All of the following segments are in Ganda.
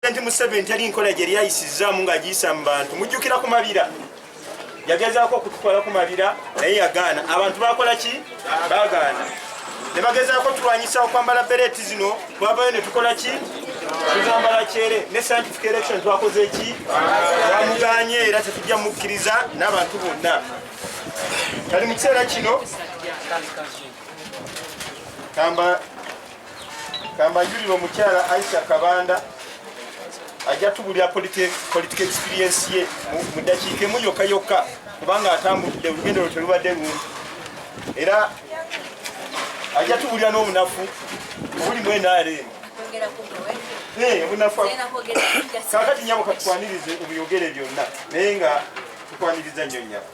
President Museveni teri nkola gye lyayisizzaamu ng'agiyisa mu bantu mujjukira ku mabira yagezaako okututwala ku mabira naye yagaana abantu bakola ki bagaana ne bagezaako tulwanyisa okwambala bereeti zino twavayo ne tukola ki tuzambala kyere ne scientific election twakoze ki twamuganye era tetujja mukkiriza n'abantu bonna kali mu kiseera kino kamba Kambanjulira omukyala Aisha Kabanda ajja tubulira politika experience ye mu ddakiika emu yokka yokka kubanga atambudde olugendo lwe telubadde lungi era ajja tubulira n'obunafu obuli mu nrm obunafu kakati nyabo katukwanirize obuyogere byonna naye nga tukwaniriza nnyo nyabo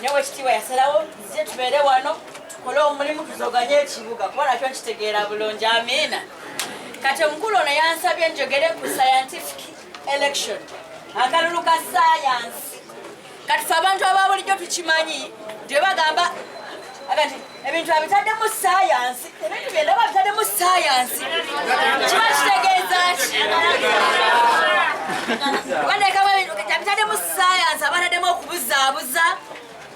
ne wekitiibwa yasalawo nzije tubeere wano tukole omulimu tuzoganye ekibuga kuba nakyo nkitegeera bulungi amiina kati omukulu ono yansabye njogere ku scientific election akalulu ka sayansi kati fe abantu ababulijjo tukimanyi nti webagamba agati ebintu abitaddemu sayansi ebintu byendaba abitaddemu sayansi kiba kitegeeza ki wanekamu ebintu abitaddemu sayansi abataddemu okubuzaabuza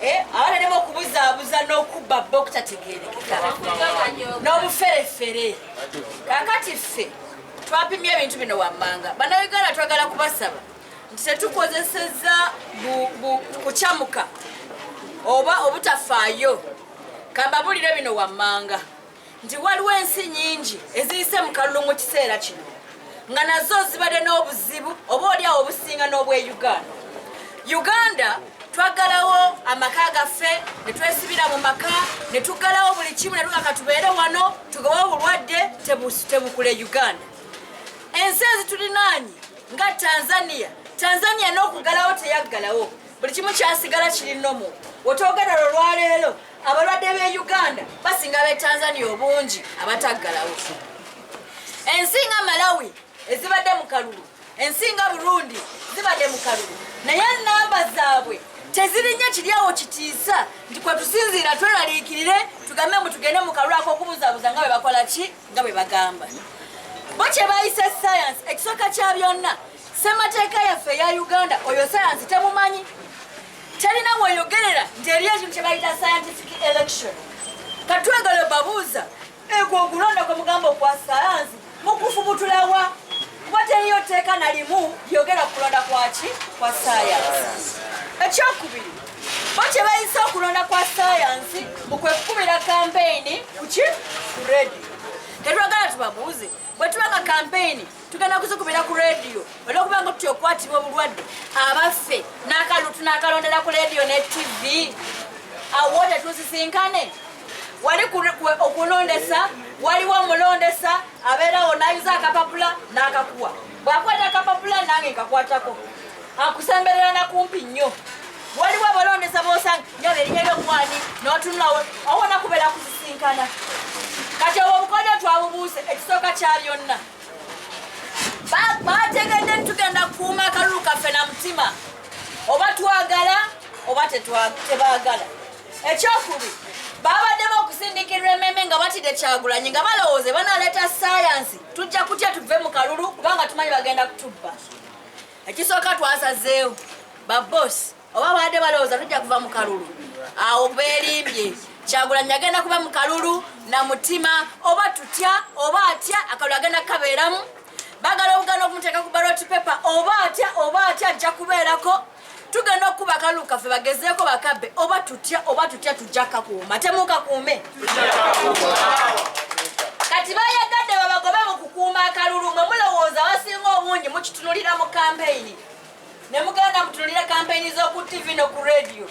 eh, abataddemu okubuzaabuza n'okubba bba okutategeerekeka n'obuferefere kakati ffe twapimye ebintu bino wammanga banauganda twagala kubasaba nti tetukozesezza kukyamuka oba obutafaayo kambabulire bino wammanga nti waliwo ensi nyingi eziyise mu kalulu mu kiseera kino nga nazo zibadde n'obuzibu oba oliawo obusinga n'obwe uganda uganda twagalawo amaka gaffe netwesibira mu maka netugalawo buli kimu netuga katubeere wano tugoba obulwadde tebukule uganda ensi ezitulinaanyi nga tanzania tanzania n'okugalawo teyaggalawo buli kimu kyasigala kiri nomu wetwogera lwo lwaleero abalwadde b'e uganda basinga b'e tanzania obungi abataggalawo ensi nga malawi ezibadde mu kalulu ensi nga burundi zibadde mu kalulu naye namba zaabwe tezirinnya kiryawo kitiisa nti kwetusinziira tweraliikirire tugambe mbu tugende mu kalulu ak'okumuzabuza nga bwe bakola ki nga bwe bagamba bo kye bayise sayansi ekisooka kya byonna ssemateeka yaffe eya uganda oyo sayansi temumanyi terina weyogerera nti eri ekintu kye bayita scientific election katwegale babuuza ekwo okulonda kwe mugamba okwa sayansi mukufubutulawa kuba teriyo tteeka nalimu lyogera ku kulonda kwaki kwa sayansi ekyokubiri bo kye bayise okulonda kwa sayansi mukwe kukubira kampeyini kuki ku rediyo tetwagala tubabuuze bwe tuba nga kampeyini tugenda kuzikubira ku rediyo olwokuba nga tutya okukwatibwa obulwadde abaffe n'akalulu tunakalondera ku rediyo ne tivi awo tetusisinkane wali okulondesa waliwo omulondesa abeerawo nayuza akapapula n'akakuwa bwakwata akapapula nange nkakwatako akusemberera na kumpi nnyo waliwo abalondesa bosanga nyo berinya lyomwani notunulawo awona kubera kusisinkana kati obwo obukodyo twabubuuse ekisooka kya byonna bategedde ntitugenda kukuuma akalulu kaffe na mutima oba twagala oba tebaagala ekyokubi babaddemu okusindikirwa ememe nga batidde kyagulanyi nga balowooze banaleeta sayansi tujja kutya tuve mu kalulu kubanga tumanyi bagenda kutubba ekisooka twasazeewo babosi oba baadde balowooza tujja kuva mu kalulu awo beerimbye kyagulanyi agenda kuba mu kalulu na mutima oba tutya oba atya akalulu agenda kukabeeramu bagala obugana okumuteeka ku baloti pepa oba atya oba atya ajja kubeerako tugenda okukuba akalulu kaffe bagezeeko bakabe oba tutya oba tutya tujja kakuuma temuukakuume kati bayagadde babagobe mu kukuuma akalulu mwe mulowooza abasinga obungi mukitunulira mu kampeyini ne mugenda mutunulira kampeyini z'oku tivi no ku rediyo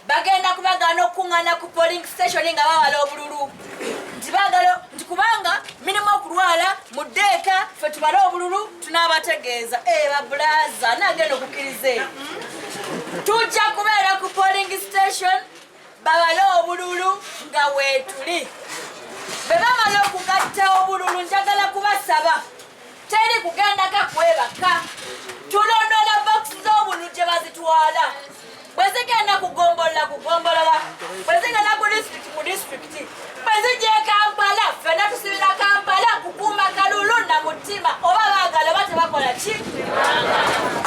bagenda kubagaana okukuŋŋaana ku polling station nga bawala obululu nti bagala nti kubanga mirimu okulwala mu ddeeka fe tubale obululu tunaabategeeza ee eh, babulaaza naagenda okukkiriza eyo tujja kubeera ku polling station babale obululu nga weetuli bwe bamala okugatta obululu njagala kubasaba teri kugendako kwebaka tulondola bokisi z'obululu gye bazitwala bwe zigenda kugombolola kugombolola bwe zigenda ku disitulikiti ku disitulikiti bwe zijja e kampala ffena tusibira kampala kukuuma kalulu na mutima oba baagala oba tebakola ki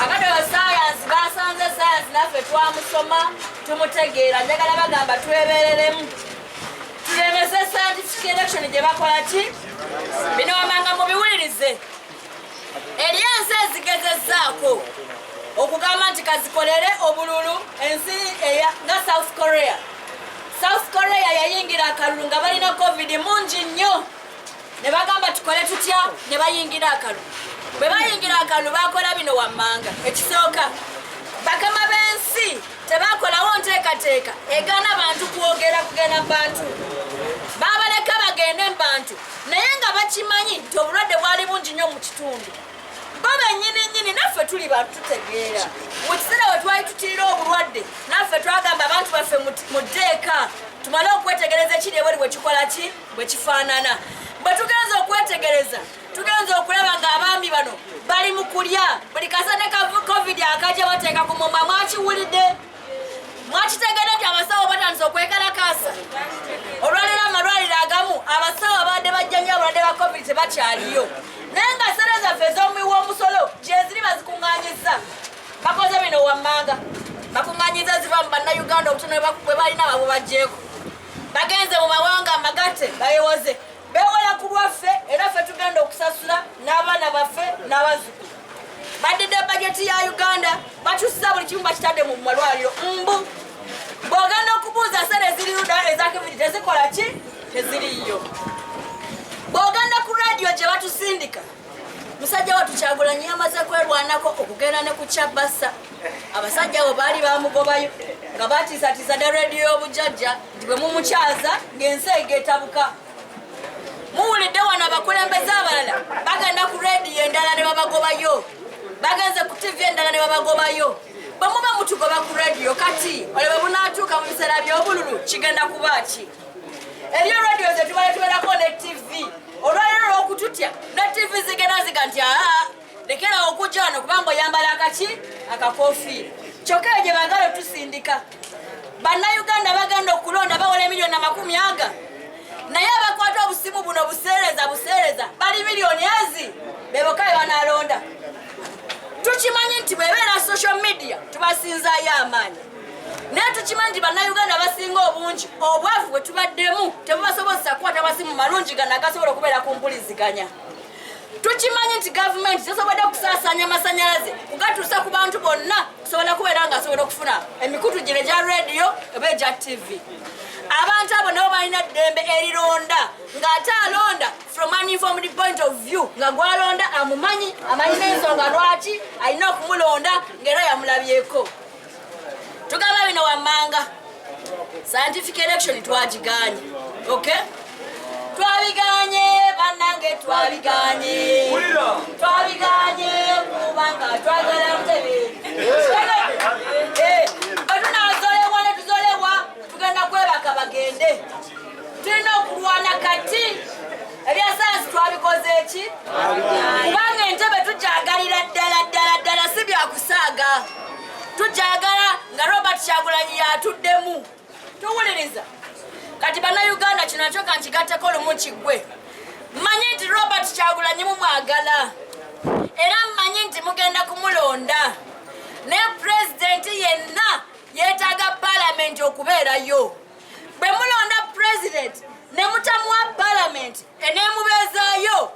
abadde basayansi basanze sayansi naffe twamusoma tumutegeera njagala bagamba twebereremu tulemese scientific election gye bakola ki bino wamanga mubiwulirize eri ensi ezigezezzaako okugamba nti kazikolere obululu ensi nga south korea south korea yayingira akalulu nga balina covid mungi nnyo ne bagamba tukole tutya ne bayingira akalu bwe bayingira akalu bakola bino wammanga ekisooka bakama b'ensi tebakolawo nteekateeka egaana bantu kwogera kugenda mu bantu babaleka bagende mu bantu naye nga bakimanyi nti obulwadde bwali bungi nnyo mu kitundu bo benyini nyini naffe tuli bantu tutegeera mu kiseera we twali tutirira obulwadde naffe twagamba abantu baffe mu ddeeka tumale okwetegereza ekiri ebweri bwe kikola ki bwe kifaanana bwe tugenza okwetegereza tugenza okulaba ng'abaami bano bali mu kulya buli kasane ka covid akajja bateeka ku mumwa mwakiwulidde mwakitegede nti abasawo batandise okwekalakaasa olwaleero amalwaliro agamu abasawo abadde bajjanyo obulwadde ba covid tebakyaliyo naye nga sere zaffe ez'omuwi w'omusolo gyeziri bazikuŋŋanyiza bakoze bino wammanga bakuŋŋanyiza ziva mu bannayuganda obutono bwe balina babubajjeeko bagenze mu mawanga amagatte bayewoze bewola ku lwaffe era ffe tugenda okusasula n'abaana baffe n'abazzukulu badidde bajeti ya uganda bakyusiza buli kimu bakitadde mu malwaliro mbu bwogenda okubuuza sente eziriruda ezakibiri tezikola ki teziriyo bwogenda ku radiyo gye batusindika musajja watu kyagulanyi yamaze kwerwanako okugenda ne ku kyabasa abasajja abo baali bamugobayo nga batiisatiisa ne rediyo y'obujajja nti bwe mumukyaza ng'ensi egetabuka muwulidde wano abakulembeze abalala bagenda ku rediyo endala ne babagobayo bagenze ku tivi endala ne babagobayo bwemuba mutugoba ku rediyo kati olebe bunatuuka mu biseera by'obululu kigenda kuba ki eriyo radio zetubale tuberako ne tv olwaliro lwokututya ne tv zigenda ziga nti aa lekera okujja wano kubanga oyambala akaki akakofiira kyokka eyo gye bagala otusindika bannayuganda bagenda okulonda bawola emiliyoni amakumi aga naye abakwata obusimu buno buseereza buseereza bali miliyoni ezi beboka bebanalonda tukimanyi nti bwebeera social media tubasinzayo amaanyi naye tukimanyi nti bannayuganda abasinga obungi obwavu bwe tubaddemu tebubasobozesa kukwata masimu malungi gano agasobola okubeera ku mpuliziganya tukimanyi nti gavumenti tesobodde okusaasanya amasanyalaze kugatuusa ku bantu bonna kusobola kubeera nga asobola okufuna emikutu gino egya rediyo oba egya tivi abantu abo nabo balina ddembe erironda ng'ate alonda from an informed point of view nga gwalonda amumanyi amanyi n'ensonga lwaki alina okumulonda ng'era yamulabyeko tugamba bino wammanga scientific election twagiganye ok twabiganye banange twabiganye twabiganye kubanga twagala mutebe batunazolewa netuzolewa tugenda kwebaka bagende tulina okulwana kati ebyasayansi twabikoze eki kubanga entebe tujagalira ddala ddala ddala si byakusaaga tukyagala nga robert kyagulanyi yatuddemu tuwuliriza kati banauganda kino nakyo kankigatteko lumu kiggwe mmanyi nti robert kyagulanyi mumwagala era mmanyi nti mugenda kumulonda ne pulezidenti yenna yeetaaga palamenti okubeerayo bwe mulonda pulezidenti ne mutamuwa palamenti eneemubeezaayo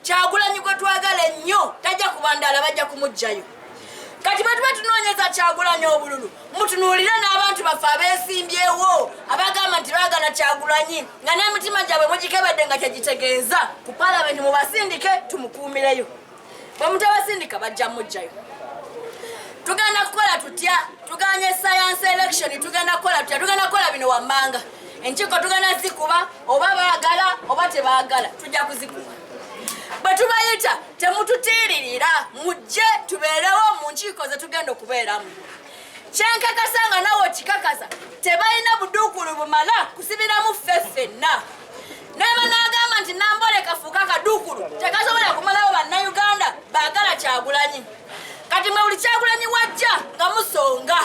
kyagulanyi gwe twagala ennyo tajja kubandaala bajja kumugjayo kati bwetuba tunoonyeza kyagulanyi obululu mutunuulire n'abantu baffe abeesimbyewo abagamba nti bagana kyagulanyi nga n'emitima gyabwe mugikebedde nga kyegitegeeza ku palamenti mubasindike tumukuumireyo bwe mutabasindika bajja mugjayo tugenda kukola tutya tuganye science election tugenda kukola tutya tugenda kukola bino wammanga enkiiko tugenda zikuba oba baagala oba tebaagala tujja kuzikuba bwe tubayita temututiiririra mujje tubeerewo mu nkiiko ze tugenda okubeeramu kyenkakasa nga nawe okikakasa tebalina buduukulu bumala kusibiramu ffe ffenna naba nagamba nti nambole kafuuka kaduukulu tekasobola kumalawo bannayuganda baagala kyagulanyi kati mwe buli kyagulanyi wajja nga musonga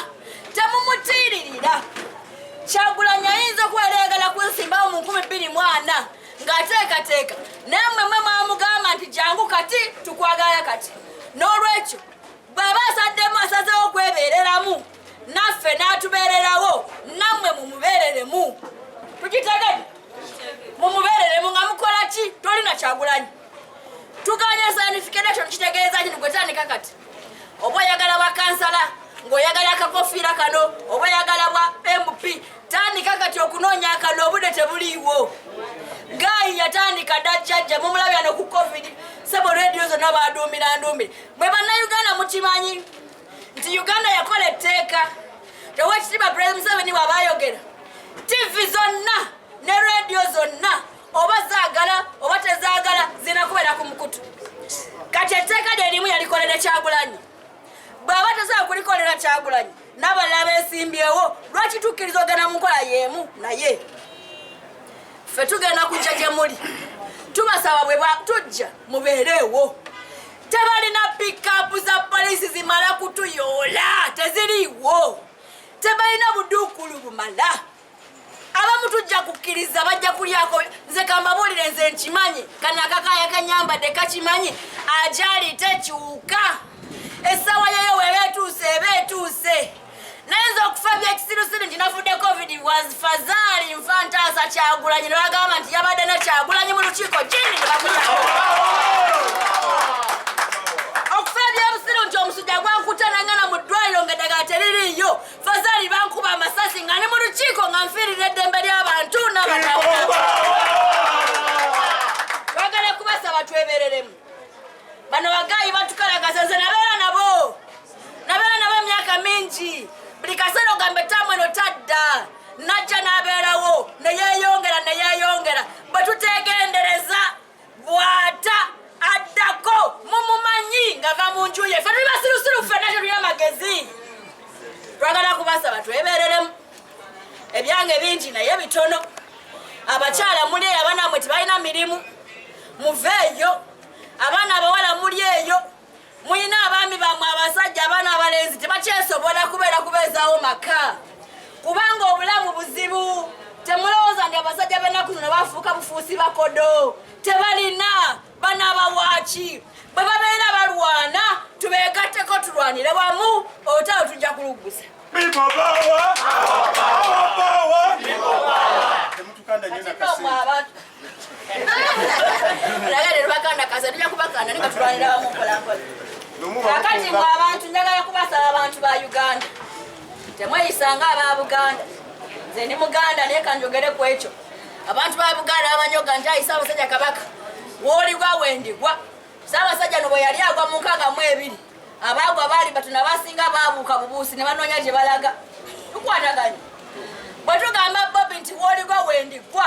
temumutiiririra kyagulanyi ayinza okuba yali ayagala kunsimbawo mu nkumi bbiri mu ana ng'ateekateeka naye mwe mwe mwamugamba nti jangu kati tukwagala kati n'olwekyo bw'aba asaddemu asazeewo okwebeereramu naffe n'atubeererawo nammwe mumubeereremu tukitegede mumubeereremu nga mukola ki tolina kyagulanyi tuganya sanifikedation kitegeeza kino gwetandika kati oba oyagala bwa kansala ng'oyagala akakofiira kano oba oyagala bwa mp tandika kati okunoonya akano obude tebuliiwo gayi yatandika dajjajja mumulabya no ku covid sebo rediyo zonna baduumira nduumire mwe bannayuganda mukimanyi nti uganda yakola etteeka tewekitiba president museveni wabayogera tivi zonna ne rediyo zonna oba zaagala oba tezaagala zirina kubeera ku mukutu kati etteeka lye limu yalikolera kyagulanyi bw'aba tasobola kulikolera kyagulanyi n'abalala beesimbyewo lwaki tukkiriza ogenda mu nkola y'emu naye ffe tugenda kujja gye muli tubasaba bwe tujja mubeereewo tebalina pikapu za poliisi zimala kutuyoola teziriiwo tebalina buduukulu bumala abamu tujja kukkiriza bajja kulyako nze kambabuulire nze nkimanyi kano akakaya kanyambadde kakimanyi ajali tekyuka essaawa yeyo weeba etuuse eba etuuse naye nze okufa byekisirusiru nti nafudde covid was fazaali nfa ntaasa kyagulanyi nebagamba nti yabadde ne kyagulanyi mu lukiiko kindi nebakuya okufa ebyobusiru nti omusujja gwankutana ngana mu ddwaliro nga eddagala teririiyo Fazali bankuba amasasi nga ni mu lukiiko nga nfiirira eddembe ly'abantu n'abanabwagala kubasaba twebereremu bano bagayi batukalagaza nze nabeera nabo nabeera nabo emyaka mingi buli kaseera ogamba ettaamu eno tadda najja n'abeerawo neyeyongera neyeyongera bwe tutegendereza bwata addako mumumanyi ngava mu nju ye fe tuli basirusiru ffena tetulina magezi twagala kubasaba twebereremu ebyange bingi naye bitono abakyala muli eyo abaana mwe tebalina mirimu muveeyo abaana abawala muli eyo mulina abaami bamwe abasajja abaana abalenzi tebakyesobola kubeera kubeezaawo maka kubanga obulamu buzibu temulowooza nti abasajja benaku zino bafuuka bufuusi bakodo tebalina banabawaaki bwe babeera balwana tubeegatteko tulwanire wamu otalo tujja kuluggusa kakati mwe abantu njagala kubasaba abantu ba uganda temweyisanga aba buganda nze ndi muganda naye kanjogere ku ekyo abantu ba buganda bamanyoga nti ayisa abasajja kabaka woligwa wendigwa saabasajja no bwe yali agwa mu nkaaga mu ebiri abaagwa baali batuna basinga baabuuka bubuusi ne banoonya gye balaga tukwataganye bwe tugamba bobi nti woligwa wendigwa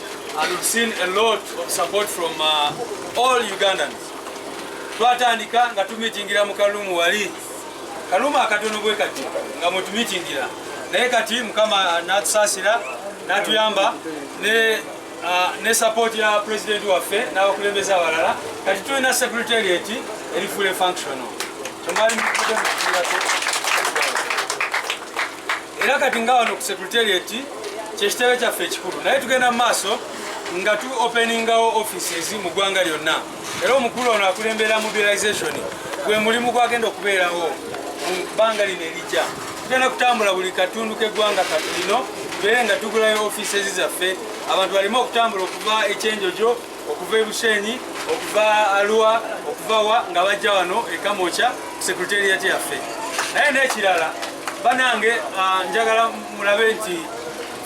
And we've seen a lot of support from uh, all Ugandans. Twatandika nga tumitingira mu Kalumu wali. Kalumu akatono bwe kati nga mwe tumitingira. Naye kati Mukama anatusasira natuyamba ne uh, ne support ya president waffe n'abakulembeze abalala kati tulina secretariat eri full functional. Tumali mukudde mukirako. era kati nga wano ku secretariat kyekitebe kyaffe ekikulu naye tugenda mu maaso nga tu openingawo offices mu ggwanga lyonna era omukulu ono akulembera mobilization gwe mulimu gwagenda okubeerawo mu bbanga lino erijja tugenda kutambula buli katundu k'eggwanga katulino tubeere nga tugulayo offices zaffe abantu baleme okutambula okuva ekyenjojo okuva e Bushenyi okuva Arua okuva wa nga bajja wano e Kamokya ku secretariat yaffe naye n'ekirala banange ah, njagala mulabe nti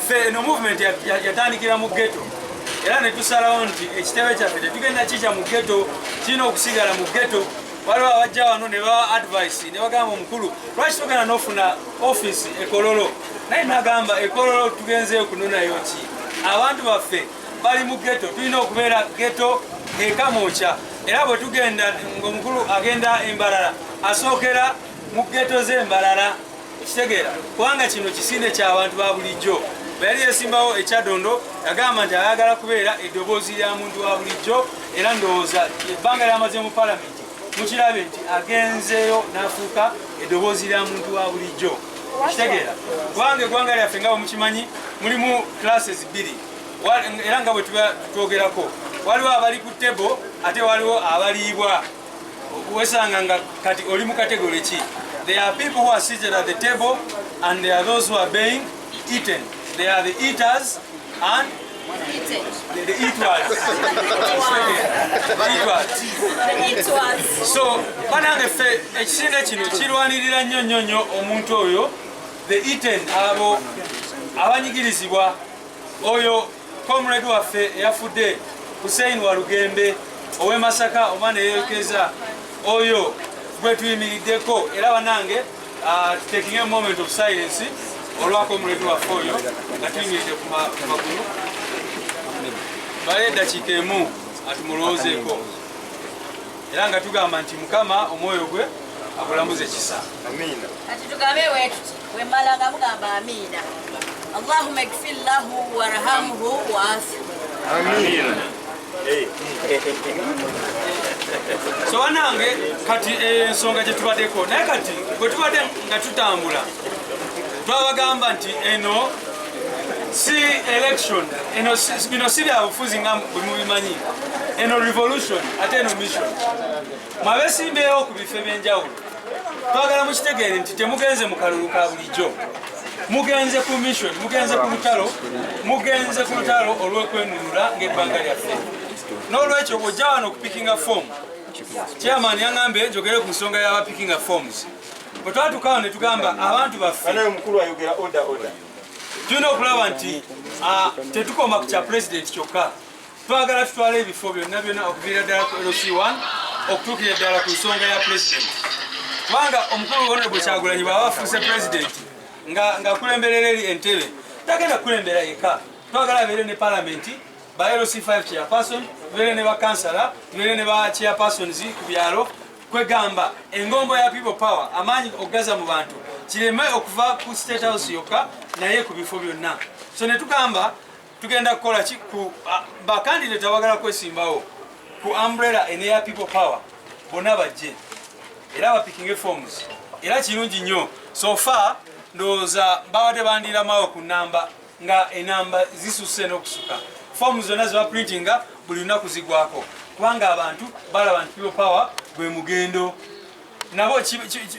ffe eno movement yatandikira mu ghetto era netusalawo nti ekitebe kyaffe tetugenda kija mu ghetto kirina okusigala mu ghetto waliwo abajja wano ne bawa advice ne bagamba omukulu lwaki togenda n'ofuna office ekololo naye nagamba ekololo tugenzeyo kunonayo ki abantu baffe bali mu geto tulina okubeera geto ekamuukya era bwe tugenda ngaomukulu agenda embalala asookera mu geto z'embalala kitegeera kubanga kino kisinde ky'abantu ba bulijjo bweyali yesimbawo ekyadondo yagamba nti ayagala kubeera eddoboozi lya muntu wa bulijjo era ndowooza ebbanga lyamaze mu palamenti mukirabe nti agenzeeyo n'afuuka eddoboozi lya muntu wa bulijjo kitegeera kubanga eggwanga lyaffe nga bwe mukimanyi mulimu classes bbiri era nga bwe tuba twogerako waliwo abali ku tebo ate waliwo abaliibwa wesanga nga kati oli mu kategole ki there are people who are seated at the table and there are those who are being eaten there are the eaters and the eaters so banange ffe ekisinde kino kirwanirira nnyo nnyo nnyo omuntu oyo the eaten abo abanyigirizibwa oyo comrade waffe eyafudde hussein walugembe ow'e masaka omwana eyerekeza oyo gwe tuyimiriddeko era banange uh, taking a moment of silence olwa comrade waffe oyo nga tuyimiridde ku magulu baye eddakiika emu atumulowoozeeko era nga tugamba nti mukama omwoyo gwe akulamuze kisa amiina kati tugambe wetuti wemala nga mugamba amiina allahuma igfir lahu warhamhu waafi amiina so wanange kati eh, ensonga eh, gyetubadeko naye kati bwetubadde nga tutambula twabagamba nti eno eh, si election eno bino si byabufuzi nga bwemubimanyi eno revolution ate eno mission mwabesimbeewo ku bifo ebyenjawulo twagala mukitegeere nti temugenze mu kalulu ka bulijjo mugenze ku mission mugenze ku lutalo mugenze ku lutalo olw'okwenunula ng'ebbanga lyaffe n'olwekyo ojja wano okupikinga fomu chairman yang'ambye njogere ku nsonga y'abapikinga forms bwe twatukawo ne tugamba abantu baffe tulina okulaba nti ah, tetukoma ku kya pulezidenti kyokka twagala tutwala ebifo byonna byonna okuviira ddala ku lc 1 okutuukira eddala ku nsonga ya pulezidenti kubanga omukulu wona bwe kyagulanyi bwaba afuuse pulezidenti ngakulemberera eri entebe tagenda kukulembera yeka twagala abeere ne palamenti ba lc 5 chairperson tubeere ne bakansala tubeere ne ba chairpersons ku byalo kwegamba engombo ya people power amaanyi okugaza mu bantu kireme okuva ku state house yokka naye ku bifo byonna so netugamba tugenda kukola ki ku bakandidate abagala kwesimbawo ku umbrella eneya people power bonna bajje era bapikinge forms era kirungi nnyo sofa ndowooza babadde bandiramawo ku namba nga enamba zisusse n'okusuka foomu zonna ze baprintinga buli lunaku zigwako kubanga abantu balaba nti people power gwe mugendo nabo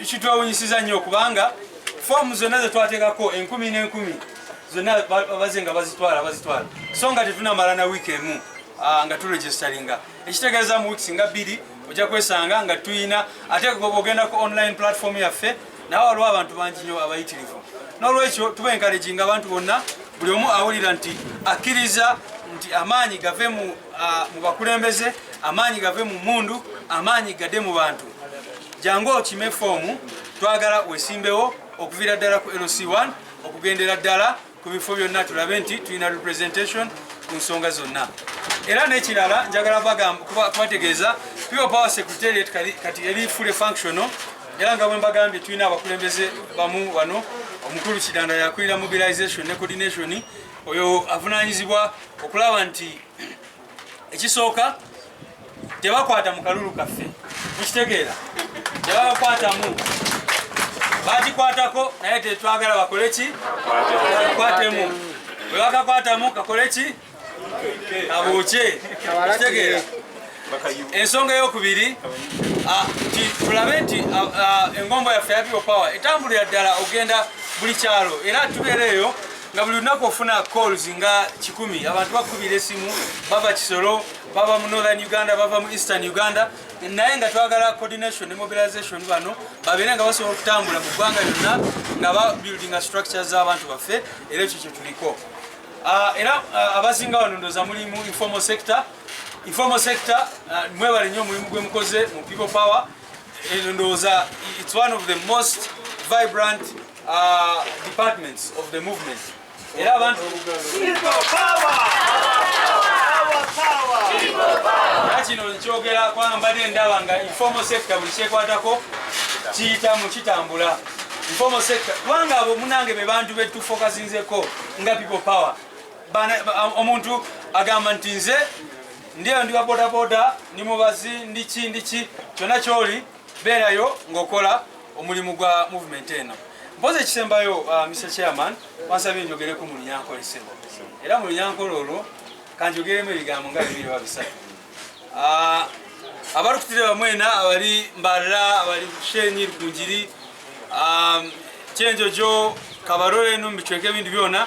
kitwewunyisiza nnyo kubanga foomu zonna ze twateekako enkumi n'enkumi zonna baze nga bazitwala bazitwala so nga tetunamala na wiiki emu ah, nga turegisteringa ekitegeeza mu wiiki singa bbiri ojja kwesanga nga tuyina ate ogenda ku online platform yaffe nawe waliwo abantu bangi nyo abayitirivu nolwekyo tuba enkalejinga abantu bonna buli omu awulira nti akkiriza nti amaanyi gave mu bakulembeze amaanyi gave mu mundu amaanyi gade mu bantu jangu okime foomu twagala wesimbewo okuviira ddala ku lc1 okugendera ddala ku bifo byonna tulabe nti tulina representation ku nsonga zonna era n'ekirala njagala kubategeeza pure power secretariat kati eri fully functional era nga bwe mbagambye tulina abakulembeze bamu wano omukulu kidanda yakulira mobilization ne coordination oyo avunanyizibwa okulaba nti ekisooka tebakwata mu kalulu kaffe mukitegeera tebabakwatamu bakikwatako naye tetwagala bakole ki kakwatemu bwe bakakwatamu kakole ki kabuukye kitegeera ensonga eyokubiri tulabe nti engombo yaffe ya people power etambulira ddala okugenda buli kyalo era tubeereeyo nga buli lunaku ofuna calls nga kikumi abantu bakubira esimu bava kisolo bava mu northern uganda bava mu eastern uganda naye nga twagala coordination ne mobilization bano babeere nga basobola okutambula mu ggwanga lyonna nga babuildinga structure z'abantu baffe era ekyo kye tuliko ah, era ah, abasinga wano ndoza muli mu informal sector informal sector ah, mwebale nnyo omulimu gwe mukoze mu people power eh, ndowooza it's one of the most vibrant uh, departments of the movement era abantu kino nkyogera kubanga mbadde ndaba nga informal sector buli kyekwatako kiyitamu kitambula informal sector kubanga abo munange be bantu betufokasinzeko nga people power omuntu agamba nti nze ndiyo ndi wabodaboda ndi mubazi ndiki ndiki kyonna kyoli beerayo ng'okola omulimu gwa movement eno mpozi ekisembayo uh, Mr Chairman wansabye njogereko mu lunyankole sebo era mu lunyankole olwo kanjogeremu ebigambo nga bibiri oba bisatu uh, abalukutire bamwena abali mbalala abali shenyi lukunjiri um, kyenjojo kabarole no mubicweka ebintu byona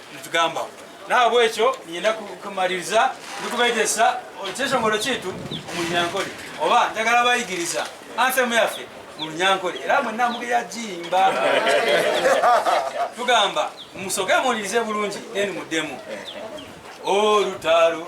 nitugamba nahabwa ekyo nyina kumaliriza ndikubaitesa ekyeshongoro kitu omunyankole oba njagala bayigiriza anthemu yaffe mulunyankole era mwena mugera jimba tugamba musoke muwulirize bulungi then mudemu olutalo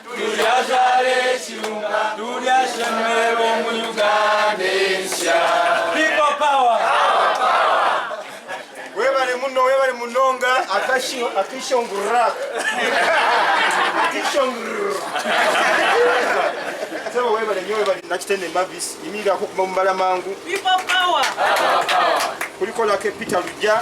Attention, attention, gras. Attention, sebo webale nyo webale nakitende mavis yimirako kuba mubala mangu kulikolako epita lujja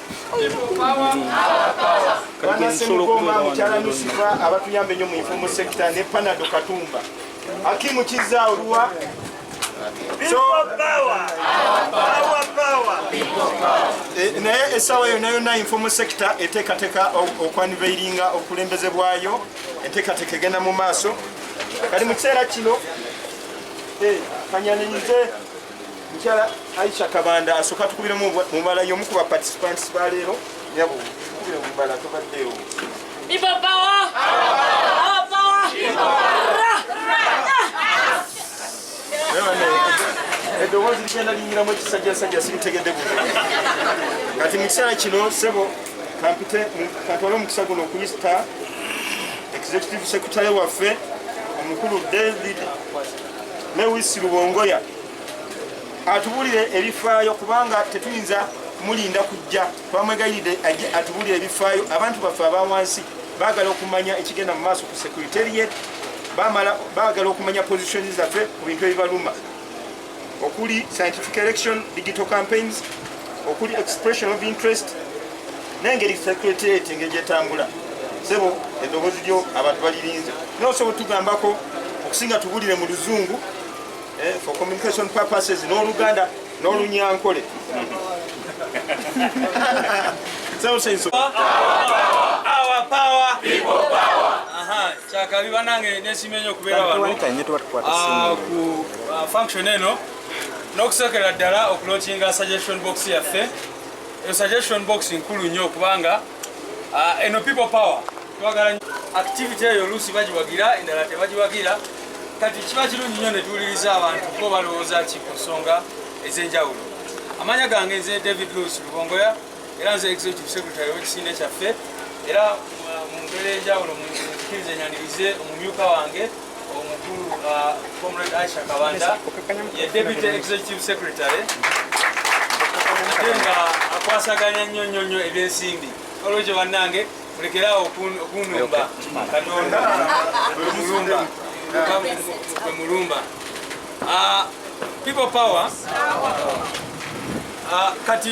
banasemugomba mukyala nusifa abatuyamba enyo mu informal sector ne panado katumba akimu kizza oluwa eh, naye esawa yona yona informal sector etekateka okwaniveiringa obukulembeze bwayo entekateka egenda mu maaso kali mu kiseera kino eh, kanyanenyize mukyala aisha kabanda asoka tukubira mubala yomu ku baparticipants baleero nyabo tukubira mubala tobaddeewo eddoboozi ligenda liyingiramu ekisajjasajja sibitegedde bu kati mu kiseera kino sebo kampite katwale omukisa guno okuyisita executive secretary waffe omukulu david Lewis Lubongoya atubulire ebifaayo kubanga tetuyinza mulinda kujja twamwegayiride aje atubulire ebifaayo abantu baffe abawansi bagala okumanya ekigenda mu maaso ku securitariat bamala bagala okumanya position zaffe ku bintu ebibaluma okuli scientific election digital campaigns okuli expression of interest nengeri secretariat engeri gyetambula sebo eddoboozi lyo abantu balirinze naye osobola otugambako okusinga tubulire mu luzungu eh, for communication purposes n'oluganda n'olunyankole kyakabi banange nesima enyo okubeera wano ah, ku ah, function eno n'okusookera ddala okulokinga suggestion box yaffe Eyo suggestion box nkulu nnyo kubanga uh, eno people power twagala activity eyo oluusi bagiwagira endala tebagiwagira kati kiba kirungi nnyo ne tuwuliriza abantu kuba balowooza ki ku nsonga ez'enjawulo amanya gange nze david lewis lubongoya era nze executive secretary w'ekisinde kyaffe era uh, mu mbeera enjawulo mukiriza enyanirize omumyuka wange Omukulu uh, Comrade Aisha Kabanda ye Deputy Executive Secretary ate nga akwasaganya nnyo nnyo nnyo ebyensimbi olwekyo bannange mulekeraawo okunumba katonda mulumba gwe mulumba uh, people power uh, kati